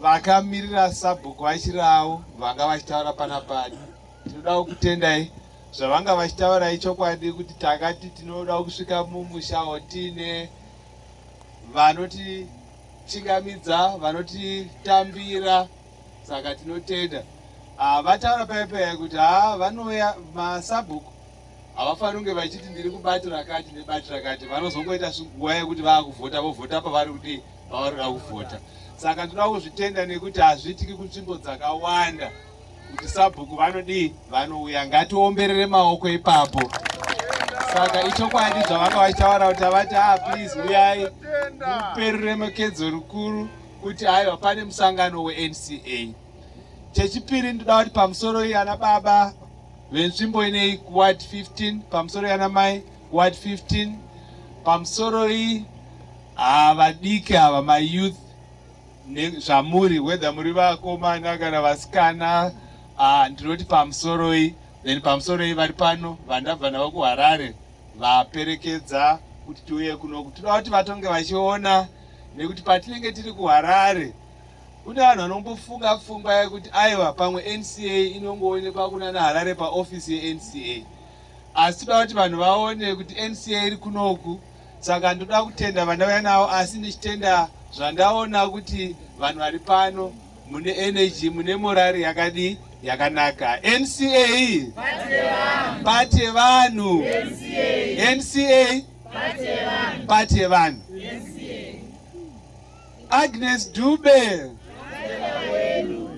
vakamirira sabhuku vachirawo vanga vachitaura pana pani tinodawo kutendai zvavanga vachitaura ichokwadi kuti takati tinoda kusvika mumusha otine vanoti chingamidza vanotitambira saka tinotenda ah, vataura paipai kuti haa ah, vanouya masabhuku havafaniri kunge vachiti ndiri kubato rakati nebato rakati vanozongoita nguva yekuti vaakuvhota vovhota pavari kuti pavari kuda kuvhota saka tinoda kuzvitenda nekuti hazviitiki kunzvimbo dzakawanda kuti sabhuku vanodii vanouya ngatiomberere maoko ipapo saka ichokwadi zvavanga vachitaura kuti havati a ah, please uyai muperure makedzo rukuru kuti aiwa pane musangano wenca chechipiri ndoda kuti pamusoro iyi ana baba venzvimbo inei kuward 15 pamusoro yanamai ward 15 pamusoro iyi ah, vadiki ava mayouth zvamuri whether muri vakomana kana vasikana ah, ndinoti pamusoro iyi then pamusoro iyi vari pano vandabva navo kuharare vaperekedza kuti tiuye kunoku tinoda kuti vatonge vachiona nekuti patinenge tiri kuharare Kune vanhu vanombofunga pfungwa yekuti aiwa pamwe NCA inongoonekwa kuna naHarare paofisi yeNCA. Asi toda kuti vanhu vaone kuti NCA iri kunoku saka ndoda kutenda vandauya navo asi ndichitenda zvandaona kuti vanhu vari pano mune energy mune morari yakadii yakanaka NCA pati yevanhu NCA pati yevanhu Agnes Dube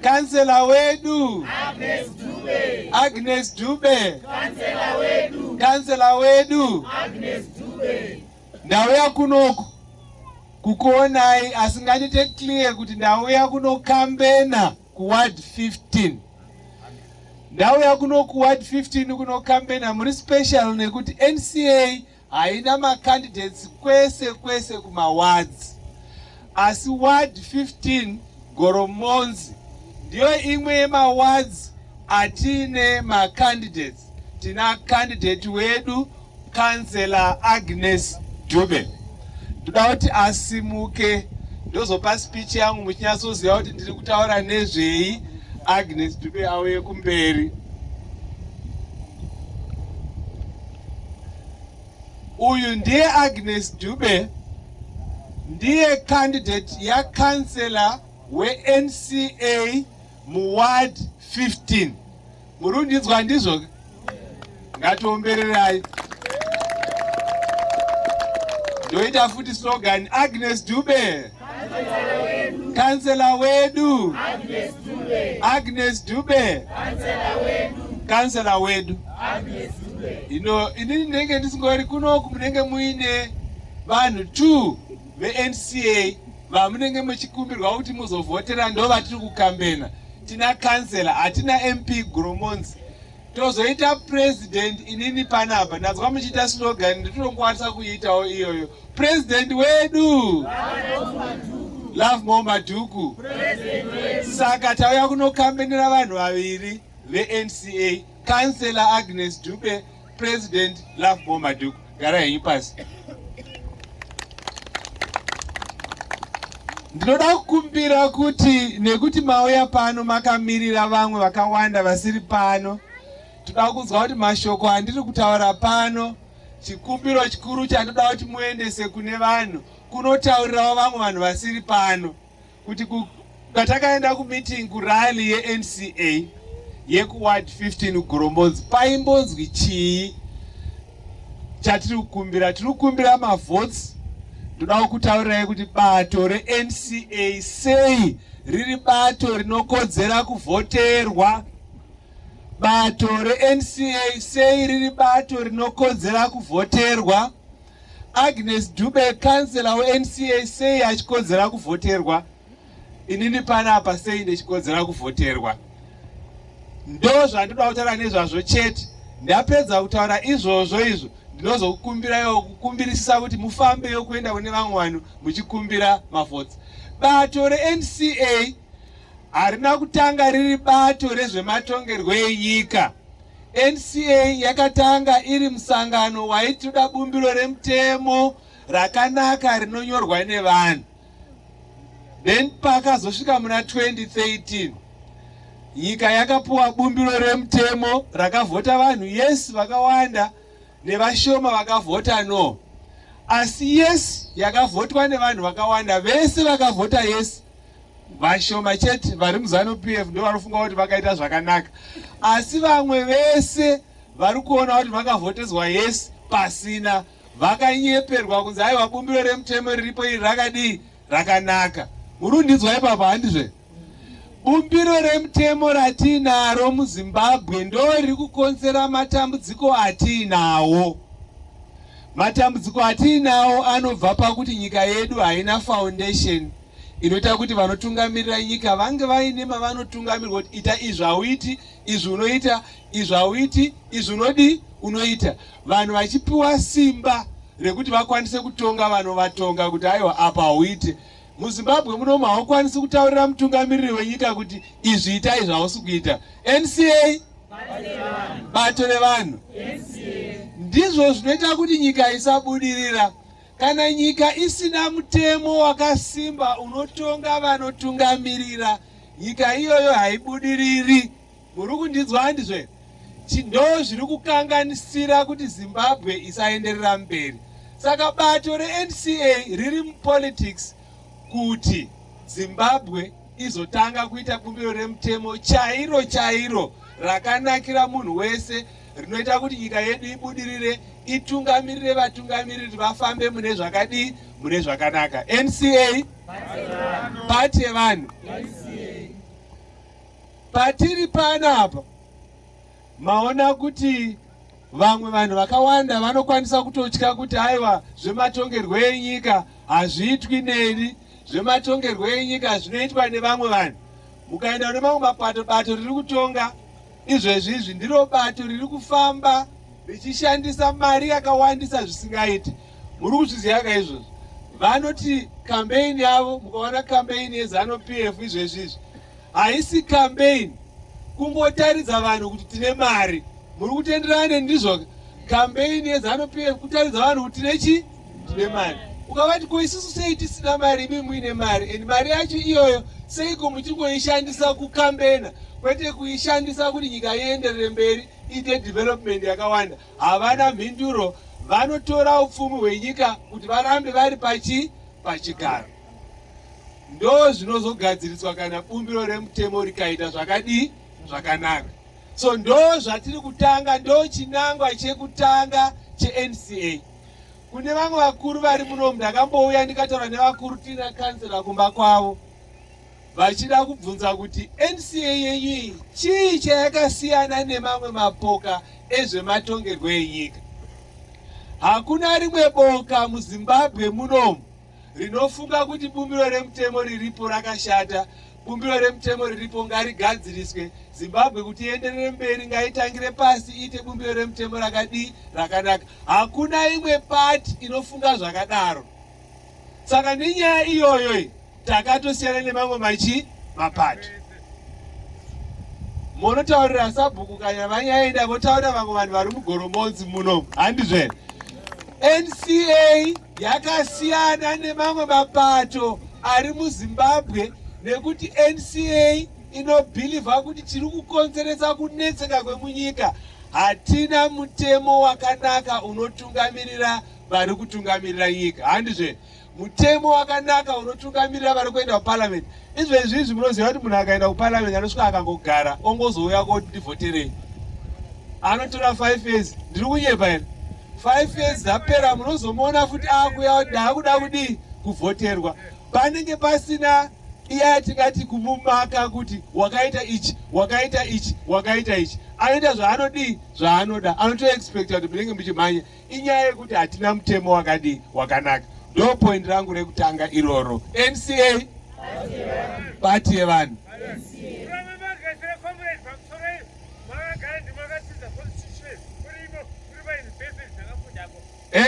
kansela wedu Agnes Dube, Agnes Dube. Kansela wedu, kansela wedu Agnes Dube. Ndauya kunoku kukuonai asi ngandite clear kuti ndauya kunokambena kuward 15 ndauya kuno kuward 15 kunokambena muri special nekuti nca haina macandidates kwese kwese kumawards asi ward 15 goromonzi ndiyo imwe yemawards atiine macandidates tina candidate wedu councellor agnes dube ndoda kuti asimuke ndozopa speech yangu muchinyatsoziva kuti ndiri kutaura nezvei agnes dube auye kumberi uyu ndiye Agnes Dube ndiye candidate yakansela weNCA muward 15 murundidzwa ndizvo ngatiombererai ndoita futi slogan Agnes Dube Kansela wedu Agnes Dube, kansela wedu. Ino ini ndinenge ndisingori kunoku munenge muine vanhu two veNCA vamunenge muchikumbirwa kuti muzovhotera ndo vatiri kukambena. Tina kansela, hatina MP Gromonzi. tozoita president inini panapa ndanzwa muchiita slogan nditinokwanisa kuiitawo iyoyo president wedu love more madhuku saka tauya kunokambenera vanhu vaviri venca councellor agnes dube president love more madhuku gara henyu pasi ndinoda kukumbira kuti nekuti mauya pano makamirira vamwe vakawanda vasiri pano toda kunzwa kuti mashoko andiri kutaura pano chikumbiro chikuru chandoda kuti muendese kune vanhu kunotaurirawo vamwe vanhu vasiri pano kuti patakaenda kumeeting kurally yenca yekuward 15 ugorombonzi paimbonzwi chii chatiri kukumbira tiri kukumbira mavotes ndodawo kutaurirai kuti bato renca sei riri bato rinokodzera kuvhoterwa bato renca sei riri bato rinokodzera kuvhoterwa Agnes Dube, kansela weNCA, sei achikodzera kuvhoterwa? Inini panapa sei ndichikodzera kuvhoterwa? Ndo zvandoda kutaura nezvazvo chete. Ndapedza kutaura izvozvo izvo ndinozokukumbirayo kukumbirisisa kuti mufambeyo kuenda kune vamwe vanhu muchikumbira mavhotsi. Bato reNCA harina kutanga riri bato rezvematongerwo enyika nca yakatanga iri musangano waitoda bumbiro remutemo rakanaka rinonyorwa nevanhu then pakazosvika muna 2013 nyika yakapuwa bumbiro remutemo rakavhota vanhu yes vakawanda nevashoma vakavhota no asi yes yakavhotwa nevanhu vakawanda vese vakavhota yes vashoma chete vari muzanu pf ndo vanofunga kuti vakaita zvakanaka asi vamwe vese vari kuona kuti vakavhotezwa yesi pasina vakanyeperwa kunzi aiwa bumbiro remutemo riripo iri rakadii rakanaka murundidzwa ipapa handizve bumbiro remutemo ratiinaro muzimbabwe ndo riri kukonzera matambudziko atiinawo matambudziko atiinawo anobva pakuti nyika yedu haina foundation inoita kuti vanotungamirira nyika vange vaine mavanotungamirwa kuti ita izvi hauiti izvi unoita izvi hauiti izvi unodii unoita vanhu vachipiwa simba rekuti vakwanise kutonga vanovatonga kuti aiwa apa hauite muzimbabwe munomu haukwanisi kutaurira mutungamiriri wenyika kuti izvi ita izvi hausi kuita nca bato revanhu ndizvo zvinoita kuti nyika isabudirira Kana nyika isina mutemo wakasimba unotonga vanotungamirira, nyika iyoyo haibudiriri. Muri kundinzwa handizve? Ndo zviri kukanganisira kuti Zimbabwe isaenderera mberi. Saka bato reNCA riri mupolitics kuti Zimbabwe izotanga kuita bumbiro remutemo chairo chairo rakanakira munhu wese. rinoita kuti nyika yedu ibudirire itungamirire vatungamiriri vafambe mune zvakadii mune zvakanaka nca pati yevanhu patiri pano apa maona kuti vamwe vanhu vakawanda vanokwanisa kutotya kuti aiwa zvematongerwo enyika hazviitwi neni zvematongerwo enyika zvinoitwa nevamwe vanhu mukaenda nemamwe mapato bato riri kutonga Izvezvi izvi ndiro bato riri kufamba richishandisa mari yakawandisa zvisingaiti. Muri kuzviziva ka izvozvi? Vanoti kambeini yavo, mukaona kambeini yeZanu PF izvezvi izvi haisi kambeini, kungotaridza vanhu kuti tine mari. Muri kutenderana nendizvo? Kambeini yeZanu PF kutaridza vanhu kuti tine chii? ndine mari ukavati ko isusu sei tisina mari imi muine mari and mari yacho iyoyo seiko muchingoishandisa kukambena kwete kuishandisa kuti nyika ienderere mberi iite development yakawanda havana mhinduro vanotora upfumi hwenyika kuti varambe vari pachi pachigaro ndo zvinozogadziriswa kana bumbiro remutemo rikaita zvakadii zvakanaka so ndo zvatiri kutanga ndo chinangwa chekutanga chenca Kune vamwe vakuru vari munomu ndakambouya ndikataura nevakuru tina kansela kumba kwavo vachida kubvunza kuti NCA yenyu iyi chii chayakasiyana nemamwe mapoka ezvematongerwo enyika. Hakuna rimwe boka muZimbabwe munomu rinofunga kuti bumbiro remutemo riripo rakashata bumbiro remutemo riripo ngarigadziriswe zimbabwe kuti ienderere mberi ngaitangire pasi iite bumbiro remutemo rakadii rakanaka hakuna imwe pati inofunga zvakadaro saka nenyaya iyoyo takatosiyana nemamwe machi mapati monotaurira sabhuku kana vanyaenda votaurira vamwe vanhu vari mugoromonzi muno handizve nca yakasiyana nemamwe mapato ari muzimbabwe nekuti nca inobhilivha kuti tiri kukonzeresa kunetseka kwemunyika hatina mutemo wakanaka unotungamirira vari kutungamirira nyika handizve mutemo wakanaka unotungamirira vari kuenda kuparliament izvo izvi izvi munoziva kuti munhu akaenda kuparliament anosvika akangogara ongozouya koti ndivhoterei anotora five years ndiri kunyepa here five years dzapera munozomuona futi akuya ndaakuda kudii kuvhoterwa panenge pasina iya yatingati kumumaka kuti wakaita ichi wakaita ichi wakaita ichi anoita zvaanodii zvaanoda anotoexpecta kuti munenge muchimhanya Inyaya yekuti hatina mutemo wakadii wakanaka. Ndo point rangu rekutanga iroro. NCA party yevanhu.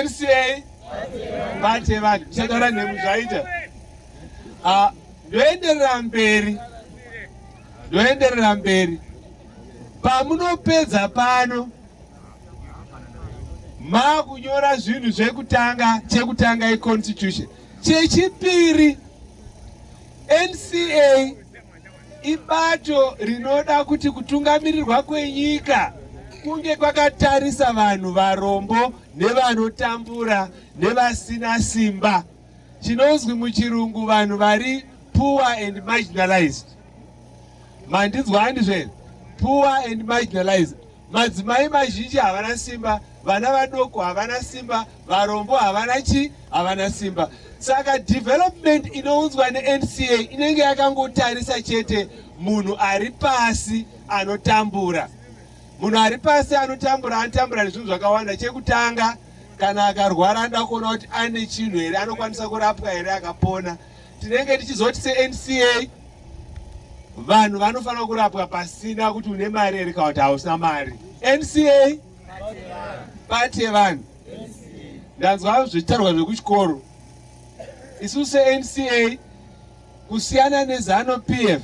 NCA party yevanhu. Tichataura nhemu zvaita. Ah, ndoenderera mberi. Ndoenderera mberi. Pamunopedza pano makunyora zvinhu zvekutanga chekutanga iconstitution chechipiri nca ibato rinoda kuti kutungamirirwa kwenyika kunge kwakatarisa vanhu varombo nevanotambura nevasina simba chinonzwi muchirungu vanhu vari poor and marginalized mandinzwa handizvere poor and marginalized madzimai mazhinji havana simba vana vadoko havana simba varombo havana chi havana simba saka development inounzwa nenca inenge yakangotarisa chete munhu ari pasi anotambura munhu ari pasi anotambura anotambura nezvinhu zvakawanda chekutanga kana akarwara anoda kuona kuti ane chinhu here anokwanisa kurapwa here akapona tinenge tichizoti senca vanhu vanofanira kurapwa pasina kuti une mari here kana kuti hausina mari nca pati yevanhu ndanzwa zvitarwa zvekuchikoro isu senca kusiyana nezano p f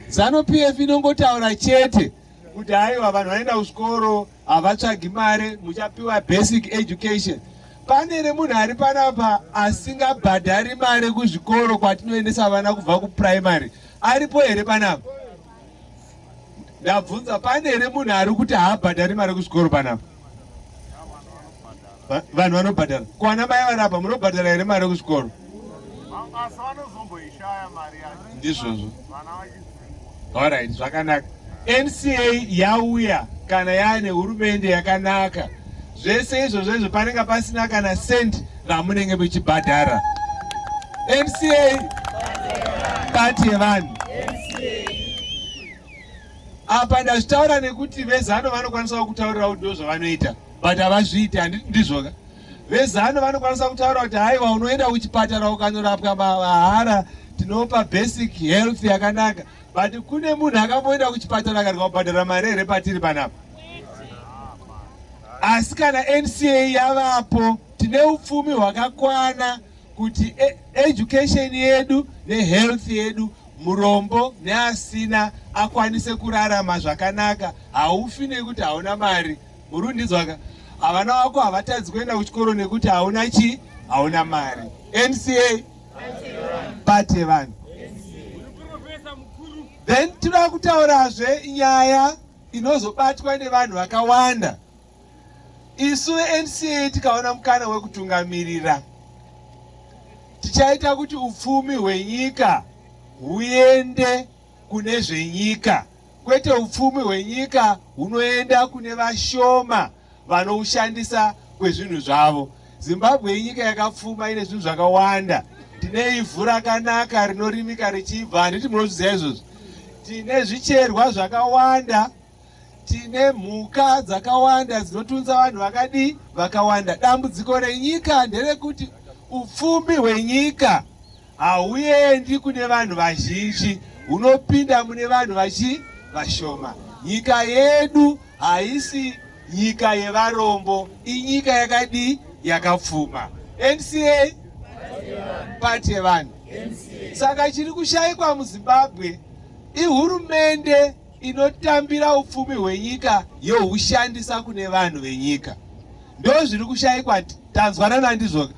zano p f inongotaura chete kuti aiwa vanhu vanoenda kuchikoro havatsvagi mari muchapiwa basic education pane remunhu ari panapa asingabhadhari mari kuzvikoro kwatinoendesa vana kubva kupuraimary aripo here panapa ndabvunza pane here munhu ari kuti haabhadhari mari kuzvikoro panapa vanhu vanobhadhara kwana mai vanapa munobhadhara here mari yekuzvikoro ndizvozvo orit zvakanaka nca yauya kana yaane hurumende yakanaka zvese izvo zvezvo panenge pasina kana cent ramunenge muchibhadhara nca pati yevanhu apa ndazvitaura nekuti vezano vanokwanisawo kutaurira kuti ndozvavanoita but havazviiti handiti ndizvoka vezano vanokwanisa kutaura kuti haiwa unoenda kuchipatara ukanorapwa mahara tinopa basic health yakanaka but kune munhu akamboenda kuchipatara akarika kubhadhara mari here patiri panapa asi kana nca yavapo tine upfumi hwakakwana kuti e, education yedu nehealth yedu Murombo neasina akwanise kurarama zvakanaka haufi nekuti hauna mari. Murundidzwaka havana wako havatadzi kuenda kuchikoro nekuti hauna chii hauna mari nca pate vanhu then tinoda kutaurazve nyaya inozobatwa nevanhu vakawanda Isu veNCA tikaona mukana wekutungamirira tichaita kuti upfumi hwenyika huende kune zvenyika kwete upfumi hwenyika hunoenda kune vashoma vanoushandisa kwezvinhu zvavo. Zimbabwe inyika yakapfuma ine zvinhu zvakawanda. Tine ivhu rakanaka rinorimika richibva, handiti munozviziva izvozvo. Tine zvicherwa zvakawanda tine mhuka dzakawanda dzinotunza vanhu vakadii vakawanda dambudziko renyika nderekuti upfumi hwenyika hauendi kune vanhu vazhinji hunopinda mune vanhu vachi vashoma nyika yedu haisi nyika yevarombo inyika yakadii yakapfuma nca pati yevanhu saka chiri kushaikwa muzimbabwe ihurumende inotambira upfumi hwenyika yohushandisa kune vanhu venyika ndo zviri kushayikwa tanzwanana ndizvoka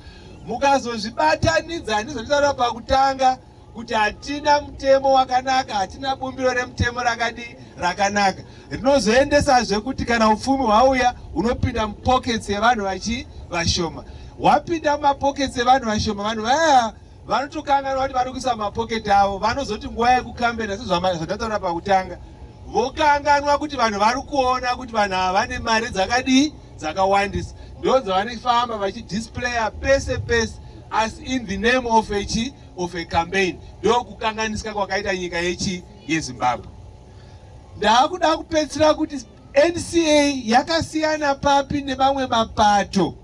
mukazozvibatanidza ndizvo nditaura pakutanga kuti hatina mutemo wakanaka hatina bumbiro remutemo rakadii rakanaka rinozoendesazve kuti kana upfumi hwauya hunopinda mupockets yevanhu vachi vashoma hwapinda mumapockets evanhu vashoma vanhu vaya vanotokanganwa kuti vari kuisa mapoketi avo vanozoti nguva yekukambena sezvandataura pakutanga vokanganwa kuti vanhu vari kuona kuti vanhu ava vane mari dzakadii dzakawandisa ndonzi vanifamba vachidisplaya pese pese as in the name of a chi of a campaign ndokukanganisika kwakaita nyika yechi yezimbabwe ndaakuda kupedzisira kuti NCA yakasiyana papi nemamwe mapato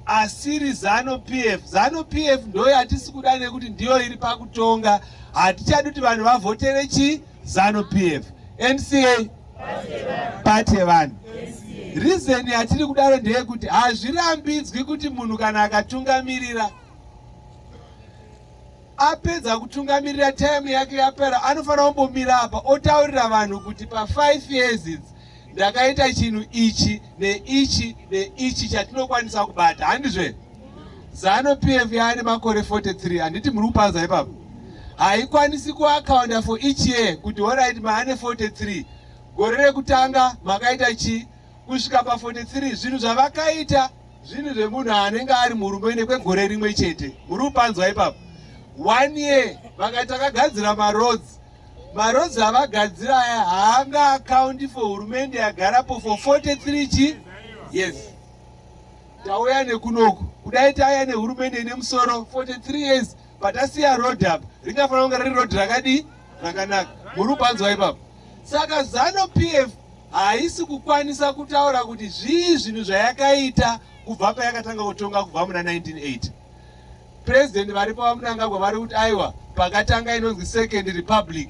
asiri Zanu PF? Zanu PF ndoyo hatisi kuda nekuti ndiyo iri pakutonga, hatichadi kuti vanhu vavhotere chi Zanu PF. NCA pati yevanhu. Reason yatiri kudaro ndeyekuti hazvirambidzwi kuti munhu kana akatungamirira apedza kutungamirira time yake yapera anofanira kumbomira apa otaurira vanhu kuti pa 5 years idzi ndakaita chinhu ichi neichi neichi chatinokwanisa kubata handizve zano p f yaane makore 43 handiti muri kupanza ipapo haikwanisi kuakaunda for each year kuti horit maane 43 gore rekutanga makaita chii kusvika pa 43 zvinhu zvavakaita zvinhu zvemunhu anenge ari murume nekwegore rimwe chete muri kupanzwa ipapo one year vakati takagadzira maroads maroads avagadzira aya haanga akaundi for hurumende yagarapo for 43 chi yes tauya nekunoku kudai tauya nehurumende ine musoro 43 years patasiya road apa ringafanira kunge riri road rakadii rakanaka muri kupanzwa ipapo saka zano pf haisi kukwanisa kutaura kuti zvii zvinhu zvayakaita kubva payakatanga kutonga kubva muna 1980 purezidendi varipo vamunangagwa vari kuti aiwa pakatanga inonzi second republic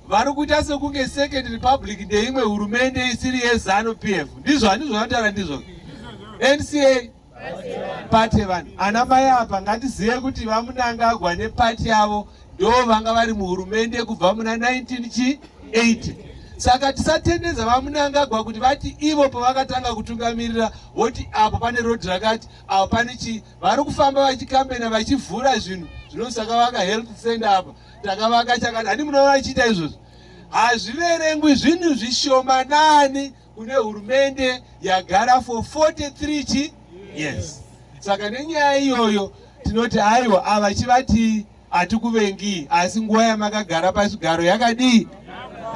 vari kuita sekunge second republic ndeimwe hurumende isiri yezanu p f ndizvo handizvo vanotaura ndizvo nca pate vanhu ana mai apa ngatizive kuti vamunangagwa nepati yavo ndo vanga vari muhurumende kubva muna 19 chi 8 saka tisatendedza vamunangagwa kuti vati ivo pavakatanga kutungamirira voti apo pane road rakati apo pane chii vari kufamba vachikambena vachivhura zvinhu zvinosaka vaka health center apa takavaka chakati handi munoona achiita izvozvo hazviverengwi zvinhu zvishomanani kune hurumende yagara for 43 chi yes saka nenyaya iyoyo tinoti aiwa ava chivati hatikuvengi asi nguva yamakagara pazvigaro yakadii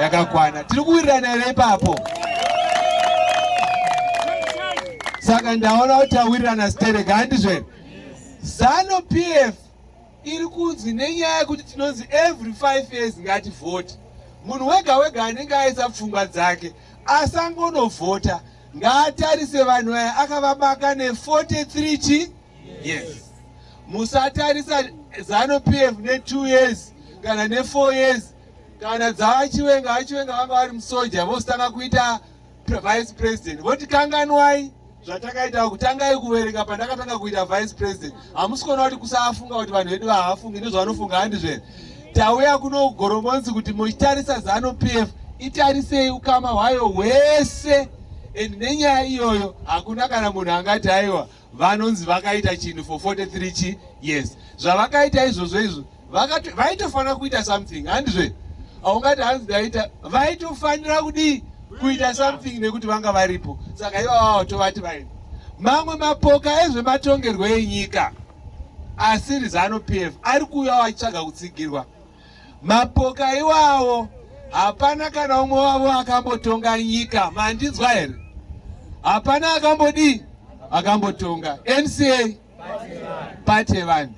yakakwana tiri kuwirirana here ipapo saka ndaona kuti tawirirana stereka handizvere zanu pf iri kunzi nenyaya yekuti tinonzi every five years ngativhote munhu wega wega anenge aisa pfungwa dzake asangonovhota ngaatarise vanhu aya akavabaka ne43 chi yes musatarisa zano pf ne2 years kana ne4 years kana dzavachiwenga vachiwenga vanga vari musoja vositanga kuita vice president voti kanganwai zvatakaita kutangai kuverenga pandakatanga kuita vice president hamusi kuona kuti kusafunga kuti vanhu vedu vahafungi nezvavanofunga handizvere tauya kuno goromonzi kuti muchitarisa zano p f itarisei ukama hwayo hwese and nenyaya iyoyo hakuna kana munhu angati aiwa vanonzi vakaita chinhu for 43 chi yes zvavakaita izvozvo izvo vaitofanira kuita something handizve aungati hanzi daita vaitofanira kudii kuita something nekuti vanga varipo saka ivavavo tovati vaini mamwe mapoka ezvematongerwo enyika asiri zanu p f ari kuuyawo achitsvaga kutsigirwa Mapoka iwawo hapana kana umwe wavo akambotonga nyika, mandinzwa here? Hapana akambodii akambotonga NCA pati yevanhu,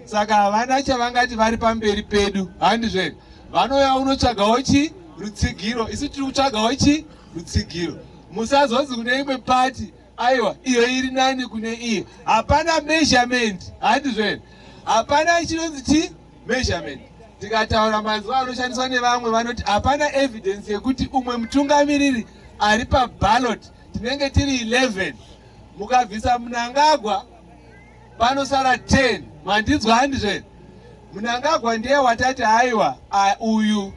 saka havana chavangati vari pamberi pedu, handizve vanouya unotsvagawo chi rutsigiro, isu tiri kutsvagawo chi rutsigiro. Musazonzi kune imwe pati aiwa iyo iri nani kune iyo hapana measurement handizvo here hapana chinonzi chi measurement tikataura mazuva anoshandiswa nevamwe vanoti hapana evidence yekuti umwe mutungamiriri ari pabalot tinenge tiri 11 mukabvisa munangagwa panosara 10 mandinzwa handizvo here munangagwa ndiye watati haiwa uyu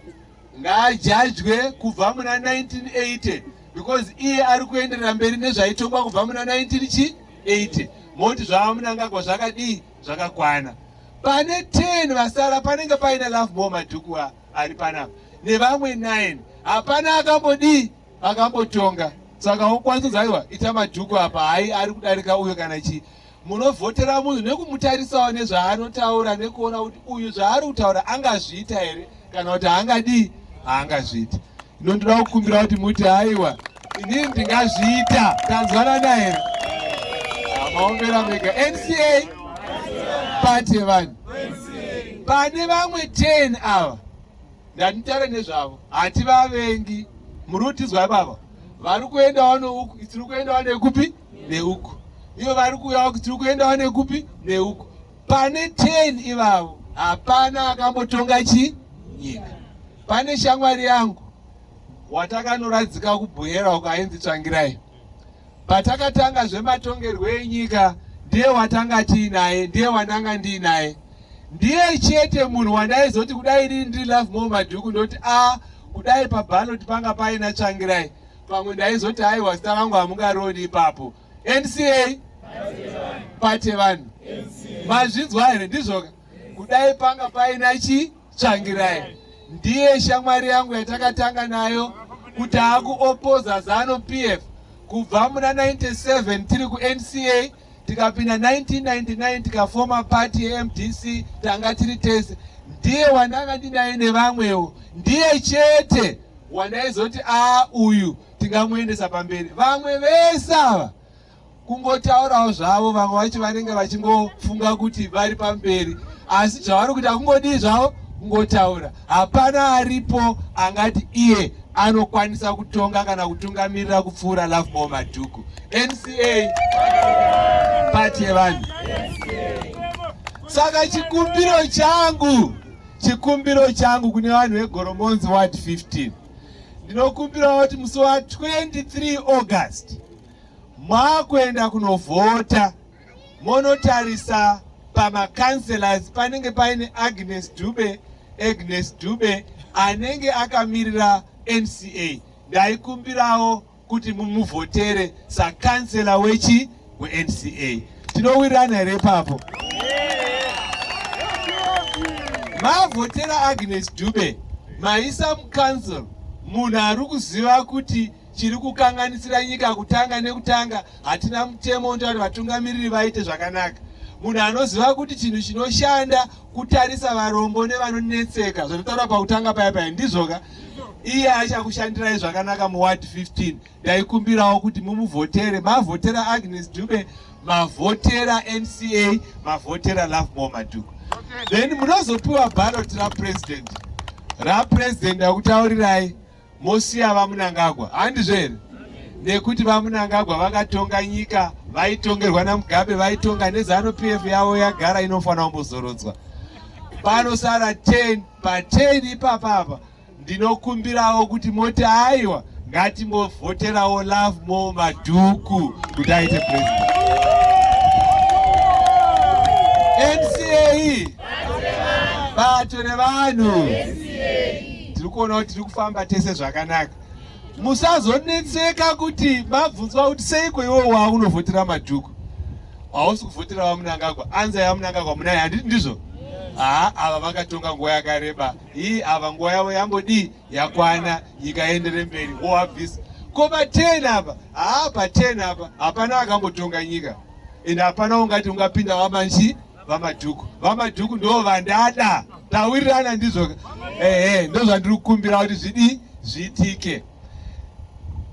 ngaajajwe kubva muna 1980 because iye ari kuenderera mberi nezvaitongwa kubva muna 19 chi 80 moti zvavamunangagwa zvakadii zvakakwana pane 10 vasara panenge paina love more madhuku ari panapa nevamwe 9 hapana akambodii akambotonga saka wokwanisa kuti aiwa ita madhuku apa hai ari kudarika uyo kana chii munovhotera munhu nekumutarisawo nezvaanotaura nekuona kuti uyu zvaari kutaura angazviita here kana kuti haangadii haangazviita ino ndinoda kukumbira kuti muti haiwa inini ndingazviita tanzwanana here maombera mega nca pati yevanhu pane vamwe 10 ava ndanitaure nezvavo hativavengi muri kutizwa baba vari kuendawo nouku tiri kuendawo nekupi neuku ivo vari kuuya kuti tiri kuendawo nekupi neuku pane 10 ivavo hapana akambotonga chi nyika pane shamwari yangu watakanoradzika kubhoyera uko ainzi tsvangirai patakatanga zvematongerwo enyika ndiye watanga tiinaye ndiye wandanga ndiinaye ndiye chete munhu wandaizoti kudai rii ndiri love more madhuku ndoti a ah, kudai pabaloti panga paina tsvangirai pamwe ndaizoti aiwa zita rangu hamungarioni ipapo nca pate vanhu mazvinzwa here ndizvoka kudai panga paina chi tsvangirai ndiye shamwari yangu yatakatanga nayo kuti akuopoza zanu pf kubva muna 97 tiri kunca tikapinda 1999 tikafoma party yemdc tanga tiri tese ndiye wandanga ndinaye nevamwewo ndiye chete wandaizoti a uyu tingamuendesa pamberi vamwe vese ava kungotaurawo zvavo vamwe vacho vanenge vachingofunga kuti vari pamberi asi zvavari kuita kungodii zvavo kungotaura Hapana aripo angati iye anokwanisa kutonga kana kutungamirira kupfuura Lovemore Madhuku. NCA pati yevanhu. Saka chikumbiro changu, chikumbiro changu kune vanhu veGoromonzi Ward 15 ndinokumbirawo kuti musi wa 23 August mwakuenda kunovhota monotarisa pamacancelors panenge paine agnes dube agnes dube anenge akamirira nca ndaikumbirawo kuti mumuvhotere sacancela wechi wenca tinowirirana here ipapo mavhotera agnes dube maisa mucouncil munhu ari kuziva kuti chiri kukanganisira nyika kutanga nekutanga hatina mutemo unoita kuti vatungamiriri vaite zvakanaka munhu anoziva kuti chinhu chinoshanda kutarisa varombo nevanonetseka zvatotaura pakutanga paya paya ndizvoka iye achakushandirai zvakanaka muward 15 ndaikumbirawo kuti mumuvhotere mavhotera agnes dube mavhotera nca mavhotera love more maduku then munozopiwa barot rapresident rapresident akutaurirai mosiya vamunangagwa handizvo here nekuti vamunangagwa vakatonga nyika vaitongerwa namugabe vaitonga nezanu p f yavo yagara inofanira kumbozorodzwa panosara 10 pa 10 ipapa apa ndinokumbirawo kuti moti aiwa ngatimbovhoterawo love more madhuku kuti aite president mca bato revanhu tiri kuona kuti tiri kufamba tese zvakanaka musazonetseka kuti mabvunzwa kuti seiko iwe wa unovhotera madhuku hausi kuvhotera vamunangagwa anza yamunangagwa munaye handiti ndizvo haa ava vakatonga nguva yakareba ii ava nguva yavo yambodii yakwana nyika yaendere mberi hoabvisa ko paten apa haa paten apa hapana akambotonga nyika ende hapana ungati ungapinda wamanji vamadhuku vamadhuku ndo vandada tawirirana ndizvo ehe ndozvandiri kukumbira kuti zvidii zviitike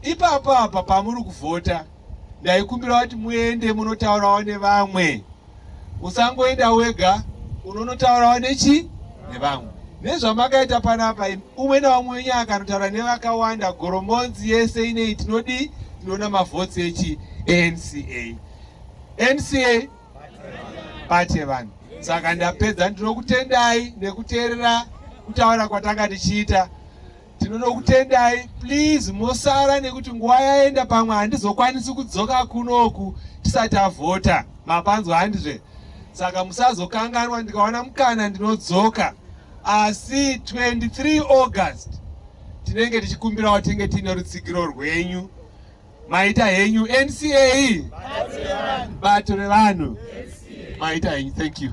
ipapo apa pamuri kuvhota ndaikumbira kuti muende munotaurawo nevamwe usangoenda wega unonotaurawo nechi nevamwe nezvamakaita panapa umwe naumwe wenyu akanotaura nevakawanda goromonzi yese inei tinodii tinoona mavhotsi echi anca nca bate vanhu saka ndapedza ndinokutendai nekuteerera kutaura kwatanga tichiita tinonokutendai please mosara nekuti nguva yaenda pamwe handizokwanisi kudzoka kunoku tisati avhota mapanzwa handizve saka musazokanganwa ndikawana mukana ndinodzoka asi 23 august tinenge tichikumbirawo tinge tiine rutsigiro rwenyu maita henyu NCA bato revanhu maita henyu thank you